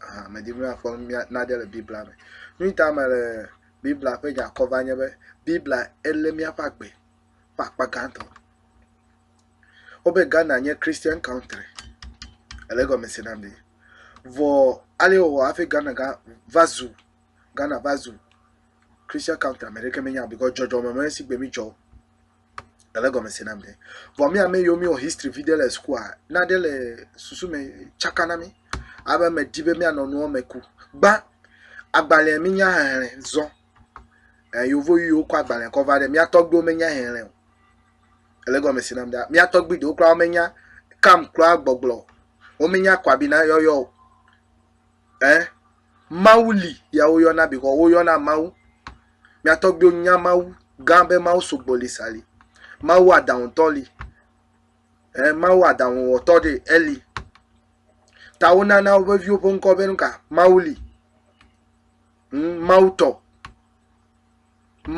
Ahan, medi be míafɔ nu mía nane le Biblia me. Nu si ta mele Biblia ƒe nya kɔm va nye be Biblia elé míaƒe agbe ƒe akpa gãtɔ. Wobe Ghana nye Christian country. Ele egɔme se nam ɖi. Vɔ ale wòwɔ hafi Ghana gã va zu Ghana va zu Christian country ame aɖeke menya o because dzɔdzɔme me si gbe mídzɔ o. Ele gɔme se nam ɖe. Vɔ mi ame yiwo mi wɔ history vi ɖe le sukua, na ɖe le susu me tsaka na mi. Abe me di be mi anɔ nuwo me ku. Gba agbalẽ mi nya hehlẽ zɔ. Eh, yovo yiwo kɔ agbalẽ kɔ va ɖe mi atɔ gbewo me nya hehlẽ o. Ele gɔme se nam ɖe. Mi atɔ gbe ɖewo kura wo me nya kam kura gbɔgblɔ. Wo me nya kwabina yɔyɔ o. Ɛ, Mawu li ya woyɔna bikɔ woyɔna Mawu. Mia tɔgbuiwo nya Mawu gã be Mawu sugbɔ li sa li. Mawu aɖaŋutɔ li. Ɛ, Mawu aɖaŋuwɔtɔ ɖe eli. Ta wonana woƒe viwo ƒe ŋkɔ be nuka? Mawu li. Ŋ, Mawu tɔ.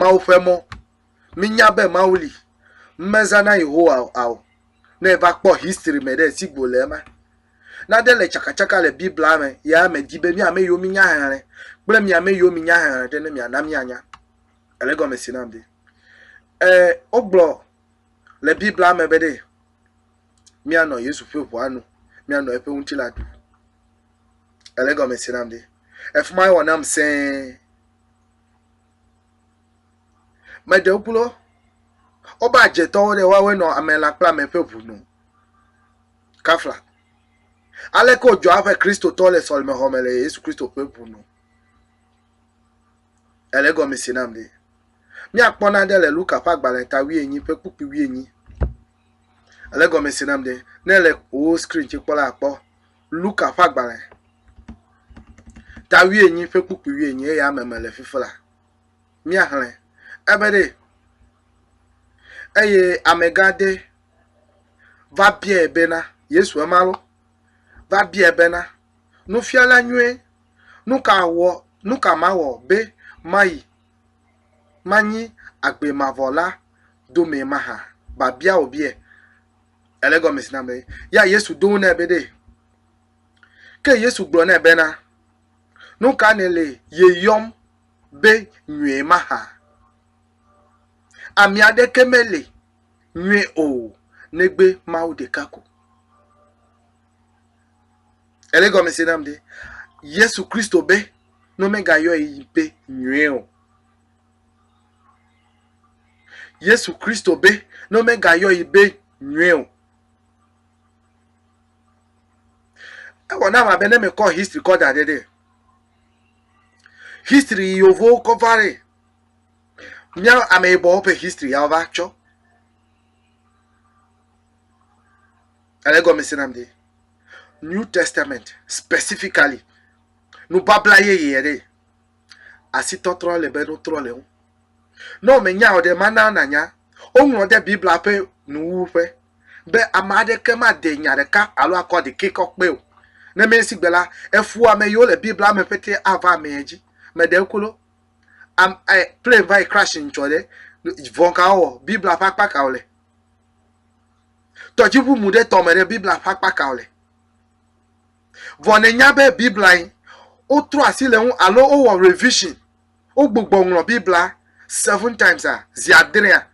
Mawu ƒe mɔ. Mínya be Mawu li. Mezãna Yehowa ao. Ne eva kpɔ history me ɖe esi go le ema. Nade le tsakatsaka le Biblia me ya medi be mi ame yiwo minya xexlẽ kple mi ame yiwo minya xexlẽ ɖe ne miana mianya. Ele gɔme si nam de. E wogblɔ le Biblia me be ɖe mianɔ Yesu ƒe ʋua nu, mianɔ eƒe ŋutilã ɖu. Ele gɔme si nam de. Efuma wɔ nam sẽe. Me ɖewo gblɔ woƒe adzetɔwo ɖe woawoe nɔ ame la kple ame ƒe ŋu nɔ. Kafla. Aleke wodzɔa eƒe Kristotɔ le sɔlemexɔ me le Yesu Kristo ƒe ŋu nɔ. Ele egɔme se nam ɖe. Míakpɔ nane le Luka ƒe agbalẽ ta wuienyi ƒe kpukpui wuienyi. Ele egɔme se nam ɖe. Ne le wò skrin dzi kpɔ la akpɔ Luka ƒe agbalẽ ta wuienyi ƒe kpukpui wuienyi eye ame me le fifi la. míaxlẽ. Ebe ɖee. Eye amegã aɖe va biae bena, Yesu ema lɔ, va biae bena, Nufiala nyuie, nu ka wɔ, nu ka mawɔ be mayi, manyi agbe mavɔ la domee mahã? Babia wòbiae. Ele egɔme si na be, ya Yesu ɖo eŋu nɛ be ɖee. Ke Yesu gblɔ nɛ bena, Nu ka nèle yeyɔm be nyui mahã. Ami aɖeke meli nyui o negbe Mawu ɖeka ko. Ele gɔme se nam ɖe? Yesu Kristo be ne womegayɔe be nyui o. Yesu Kristo be ne womegayɔe be nyui o. Ewɔ nam abe ne mekɔ history kɔ da ɖe ɖe. History yi yovowo kɔ va ɖe. Mía ameyibɔwo ƒe history ya wova tsɔ. Ale gɔme se nam de. New Testament specifically. Nubabla yeye yɛ ɖe. Asi tɔtrɔ le be nutrɔ le ŋu. Ne wòmenya o ɖe, mana nànya. Woŋlɔ ɖe Biblia ƒe nuwuwu ƒe. be ame aɖeke made nya ɖeka alo akɔ aɖekɛ kɔ kpe o. Nenema si gbe la, efua ame yiwo le Biblia me pete ava amea dzi. Meɖe klo am e plane va yi crash ŋtsɔ ɖe. Vɔ̃ ka wowɔ? Biblia ƒe akpa ka wole? Tɔdziʋu mu ɖe tɔme ɖe. Biblia ƒe akpa ka wole? Vɔ nènya be Biblia yi wotrɔ asi le ŋu alo wowɔ revision, wogbugbɔ ŋlɔ Biblia seven times a, zi adrea?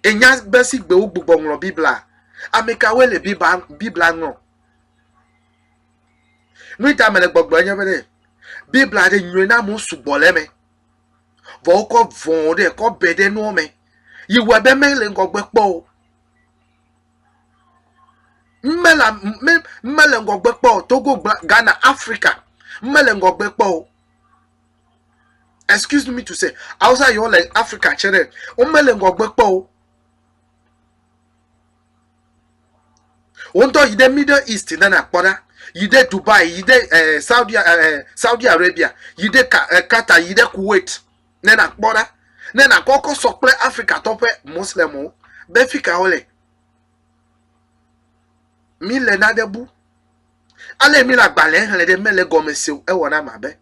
Ènya be sigbe wogbugbɔ ŋlɔ Biblia? Amekawoe le Biblia Biblia ŋlɔ? Nui ta mele gbɔgblɔe nye be ɖe Biblia ɖe nyɔe na amewo sugbɔ le eme. Vɔ wokɔ vɔ ɖe kɔ be ɖe nuwo me. Yi wɔe be mele ŋgɔgbe kpɔ o. Mele mele ŋgɔgbe kpɔ o. Togo, Ghana, Afrika mele ŋgɔgbe kpɔ o. excuse me to say awusa yiwo le africa tsɛ ɖe womele ŋgɔgbe kpɔ o woŋutɔ yi ɖe middle east ne nakpɔ ɖa yi ɖe dubai yi ɖe eh, saudi, eh, saudi arabia yi ɖe Ka- eh, qatar yi ɖe kuwait ne nakpɔ ɖa ne nakɔkɔ sɔ kple africa tɔ ƒe muslimwo be fi ka wole mi le nane bu Ale mi le agbalẽ xlẽ ɖe mele gɔme se o. Ewɔ nam abe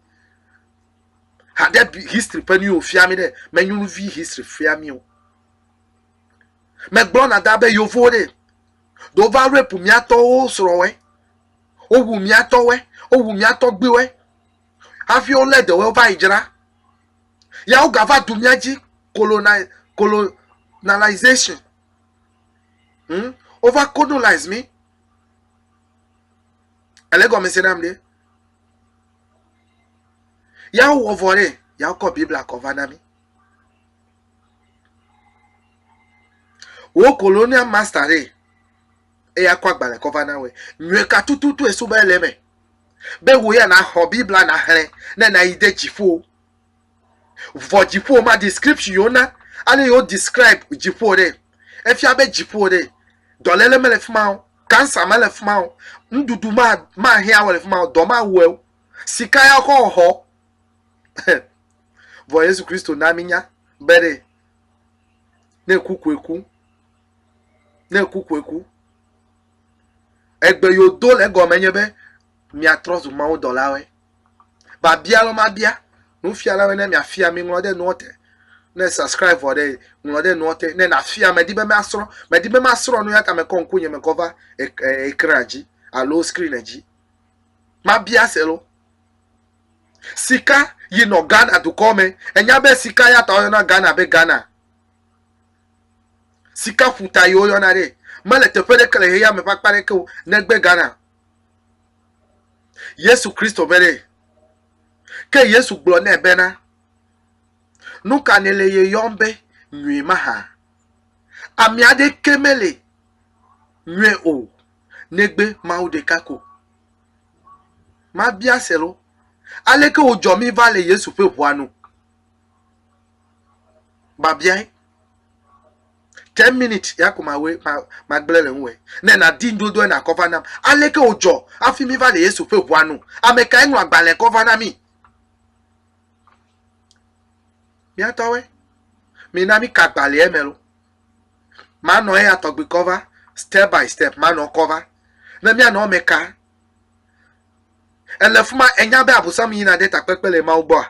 haɖe history ƒe nuwo fia mi ɖe. Me nyɔnuvi history fia mi o. Megblɔ na da be yovo ɖe do va rape miatɔwo srɔ̃wɛ. Wowu miatɔwɛ. Wowu miatɔgbiwɛ. Hafi wo le ɖewo va yi dzra. Ya woga va du mia dzi colonization. Hmm? Wova colonize mi. Ele gɔme se nam ɖe. Ya wɔ vɔ ɖe, ya kɔ Biblia kɔ va na mi. Wo colonial master ɖe, eya kɔ agbalẽ kɔ va na wɔ. Nyɔe ka tututu esu be ele me. Be wo ya na xɔ Biblia na xlẽ ne na yi de dziƒo. Vɔ dziƒo ma description yo na ale yo describe dziƒo ɖe. Efia be dziƒo ɖe dɔlele mele fi ma o, cancer mele fi ma o, nuɖuɖu mahia wɔ le fi ma o, dɔ mawɔe o, sika ya kɔ xɔ. Vɔ Yesu Kristo na mi nya be ɖe ne ku koe ku, ne ku koe ku. Egbe yo do le egɔme nye be miatrɔ zu mawudɔlawoe. Babia lɔ mabia nufiala be ne miafia mi ŋlɔ ɖe nua te. Ne subscribe vɔ ɖe ŋlɔ ɖe nua te. Ne nafia medi be masrɔ medi be masrɔ nu ya ta mekɔ ŋku nye mekɔ va ekran dzi alo screen dzi. Mabia se lo. Sika yinɔ Ghana dukɔ me. Enya be sika ya ta woyɔna Ghana be Ghana. Sika ƒuta yi woyɔna ɖe. Mele teƒe ɖeke le xexeame ƒe akpa ɖeke o negbe Ghana. Yesu Kristo be ɖee. Ke Yesu gblɔ nɛ bena, Nu ka nèle ye yɔm be nyui mahã? Ame aɖeke mele nyui o, negbe Mawu ɖeka ko. Mabia se loo, aleke wòdzɔ míva le Yesu ƒe ʋua nu? Babiae. Ten minutes ya ko mawe magblẽ le ŋue. Ne nàdi ŋuɖoɖoa na kɔ va nam. Aleke wòdzɔ hafi míva le Yesu ƒe ʋua nu? Ame kae ŋlɔ agbalẽ kɔ va na mí? Mía tɔwoe. Mina míka agbalẽa me lo. Manɔ eya tɔgbi kɔ va step by step manɔ kɔ va. Ne míanɔ eme ka, Èle fi ma, ènya be Abosam yina ɖe takpekpe le Mawu gbɔa?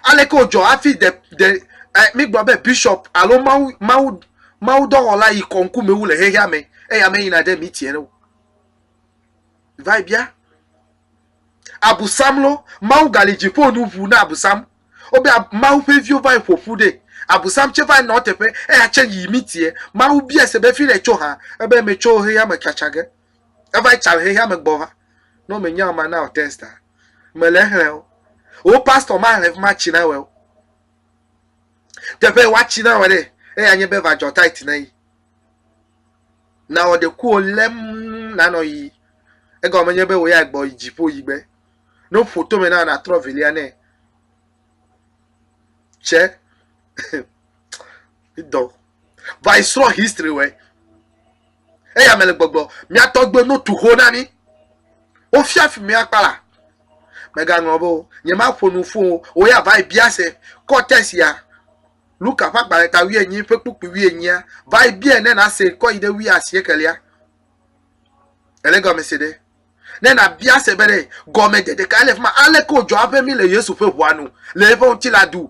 Aleke wòdzɔ hafi de, de, eh, mígblɔ be bishop alo Mawu, Mawu, mawudɔwɔla yi kɔ ŋkume wu le xexea me, eya meyina ɖe mitiere o. Va yi bia. Abosam lo, Mawu gali dziƒo nu ʋu na Abosam. Wobe ab, Mawu ƒe viwo va yi ƒo ƒu ɖe. Abosam tse va yi nɔ teƒe, eya tse yi mitie. Mawu bia se be, Fi ɖe tso hã? Ebe, Metso xexea me tsatsa ge. Eva tsa le xexea me gbɔ va. Ne wome nya ma na o test a. Me le xlẽ o. O pastor ma le ma tsi na wɛ o. Teƒe wa tsi na wɛ ɖe. Eya nye be va jɔ tight na yi. Na wɔ de ku o lem na nɔ yi. Ega wɔ me nye be wo ya gbɔ yi dzi po yi gbe. No foto me na na trɔ velia ne. Che. Ido. va yi srɔ̃ history wɛ eya me le gbɔgblɔ mía tɔgbe no tu ho na mí wofia fi mía kpala megaŋlɔ be o nye ma ƒo nu fún o o ya va yi bia se kɔtɛs ya luka ƒe agbalẽ ta wuie nyi ƒe kpukpui wuie nyia va yi bia ne na se kɔ yi ɖe wuie asie kelia ele gɔme se ɖe ne na bia se be ɖe gɔme de ɖeka ele fi ma ale ko jɔ aƒe mi le yesu ƒe ʋua nu le eƒe ŋuti la du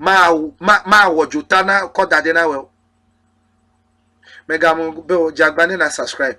mawɔ dzota na kɔ da ɖɛ na wɛ o. Mègamu be wò dze agbagba ne na subscribe.